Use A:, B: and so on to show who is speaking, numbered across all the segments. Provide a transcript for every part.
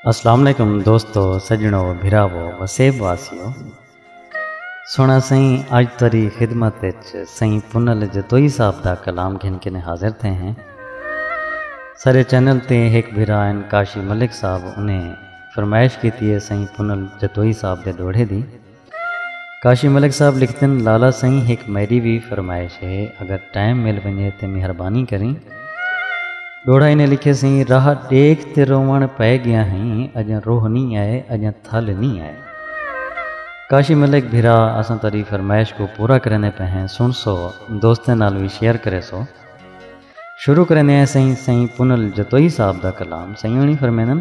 A: السلام علیکم دوستو سجنو بھراو وسیب واسیو سونا سائیں اج تری خدمت وچ سائیں پنل جتوئی صاحب دا کلام گھن کے حاضر تھے ہیں سارے چینل تے ایک بھرا ان کاشی ملک صاحب انہیں فرمائش کیتی ہے سائیں پنل جتوئی صاحب دے ڈوڑے دی کاشی ملک صاحب لکھدن لالا سئیں ہک میڈی وی فرمائش ہے اگر ٹائم مل ونجے تے مہربانی کریں ڈوڑھا انہیں لکھے سئیں راہ ڈیکھ تے روون پئے گیاں ہیں اجاں روہ نی آئے اجاں تھل نی آئے کاشی ملک بھرا اساں تہاڈی فرمائش کوں پورا کریندے پئے ہیں سنڑسو دوستیں نال وی شیئر کریسو شروع کریندے ہیں سئیں سئیں پنل جتوئی صاحب دا کلام سئیں ہنڑی فرمیندن۔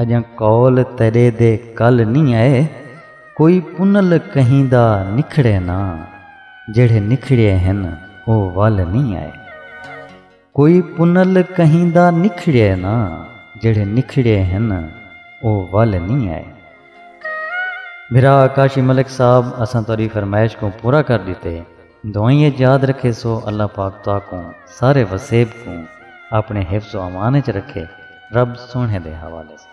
A: اڄاں قول تیݙے دے کل نی اے کوئی پنل کہیں دا نکھڑے نا جیڑھے نکھڑیے ہن او ول نی اے کوئی پنل کہیں دا نکھڑیے نا جیڑھے نکھڑیے ہن او ول نی اے بھرا کاشی ملک صاحب اساں تہاݙی فرمائش کوں پورا کر ݙتے۔ دعائیں اچ یاد رکھیسو اللہ پاک تہاکوں سارے وسیب کوں آپنڑے حفظ و امان اچ رکھے رب سوہنڑے دے حوالے سوں۔